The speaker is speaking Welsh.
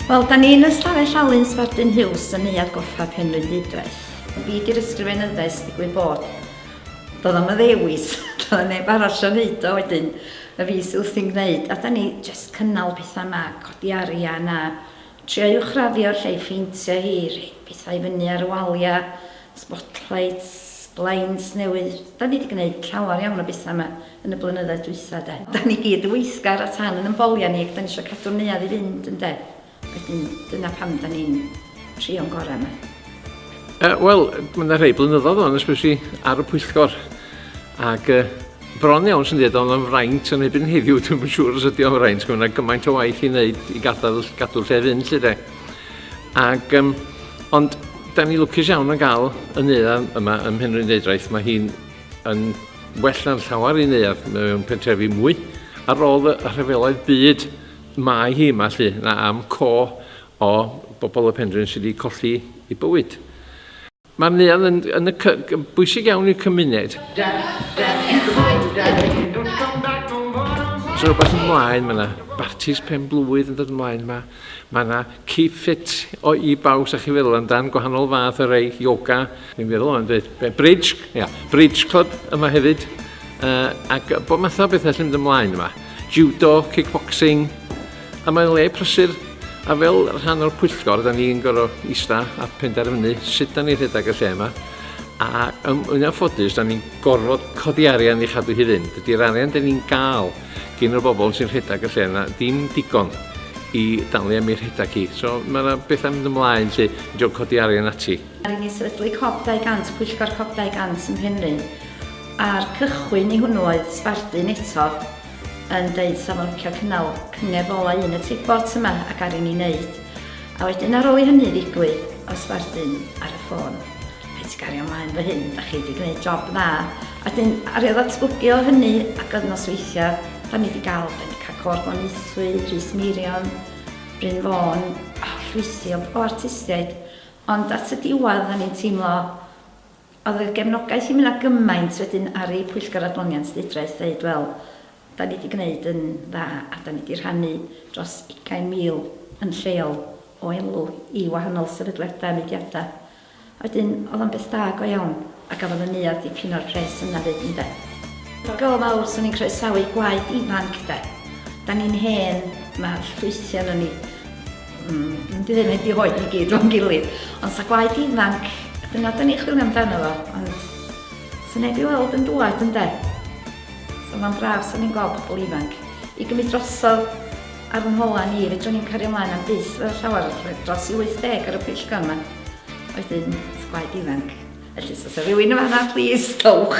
Wel, da ni yn Ystafell Alun Sbardun Hughes yn Neuadd Goffa Penrhyn Didwaith. Y byd i'r ysgrifenyddau sdigwyd bod. Doedd am y ddewis, doedd yn neb arall yn neud o wedyn, y fi sydd wrthi'n gwneud, a da ni just cynnal pethau yma, codi arian a trio uwchraddio'r lle i ffeintio hi, rhoi pethau fyny ar y waliau, spotlights, blinds newydd, da ni wedi gwneud llawer iawn o bethau yma. yn y blynyddoedd dwytha de. Dan ni gyd yn weithgar a tan yn ymbolia ni ac dan ni isio cadw'r neuadd i fynd ynde? Wedyn dyna pam dan ni'n trio'n gorau yma. Uh, Wel, mae yna rhai blynyddoedd o'n ysbryd i ar y pwyllgor ac uh, bron iawn sy'n dweud o'n fraint yn ebyn heddiw, dwi'n yn siŵr os ydy o'n fraint, mae yna gymaint o waith i wneud i gadael gadw lle fynd lle de. Ac, um, ond da ni lwcus iawn yn gael y neuadd yma ym Mhenrhyn Deidraeth, mae hi'n Yn well na'n llawer i neuadd mewn pentrefi mwy, ar ôl y rhyfeloedd byd mae hi yma lly, na am co o bobl y penrhyn sydd wedi colli i bywyd. Mae'r neuadd yn, yn, y, yn bwysig iawn i'r cymuned. Os rhywbeth ymlaen, mae yna bartis pen blwydd yn dod ymlaen yma. Mae 'na Keep Fit o i bawb, sa chi'n feddwl amdan gwahanol fath o rei, yoga, dwi'n meddwl o'n dweud, bridge, ia, bridge club yma hefyd, uh, ac bod math o bethau sy'n mynd ymlaen yma. Judo, kickboxing, a mae'n le prysur, a fel rhan o'r pwyllgor, da ni'n gorau ista a penderfynu sut da ni'n rhedeg y lle yma, a um, yn anffodus, da ni'n gorfod codi arian i chadw hi fynd. Ydy'r arian da ni'n gael gin y bobl sy'n rhedeg y lle yna ddim digon i dalu am ei rhedeg hi. So mae yna bethau mynd ymlaen sy'n diolch codi arian ati. Mae rhaid i ni sefydlu Cob 200, Pwyllgor Cob 200 ym Mhenrhyn, a'r cychwyn i hwnnw oedd Sbardun eto yn deud sa fo'n licio cynnal cyngerdd ola un y Teibot yma ac ar i ni wneud. A wedyn ar ôl i hynny ddigwydd oedd Sbardun ar y ffôn. Reit, gario mlaen fy hyn, da chi di gwneud job dda. A wedyn, aru o ddatblygu o hynny, ac oedd nosweithiau, da ni di gael Benica Côr Glaneuthwy, Rhys Meirion, Bryn Fôn, o, llwythi o o artistiaid. Ond at y diwedd, o'n i'n teimlo, oedd y gefnogaeth i mi 'na gymaint wedyn aru Pwyllgor Adloniant Llywodraeth ddeud, wel, da ni di gwneud yn dda, a da ni di rhannu dros ugain mil yn lleol o elw i wahanol sefydliadau a mudiadau. Wedyn oedd o'n beth da go iawn a gafodd y neuadd dipyn o'r pres yna 'fyd ynde? Diolch fawr, swn i'n croesawu gwaith ifanc 'de. Dan ni'n hen, mae'r ffrwythiau yno ni, mm, dwi ddim wedi rhoi i gyd o'n gilydd, ond sa gwaith ifanc, dyna dan ni'n chwilio amdano fo, ond sa neb i weld yn dŵad ynde? So mae'n braf, swn i'n gweld pobl ifanc i gymryd drosodd ar fy ngholau ni, fedrwn ni'm cario mlaen am byth fel llawer, dros i 80 ar y pwyllgor yma. Wedyn, gwaed ifanc. Felly, os oes rhywun yn fanna, plis, dowch.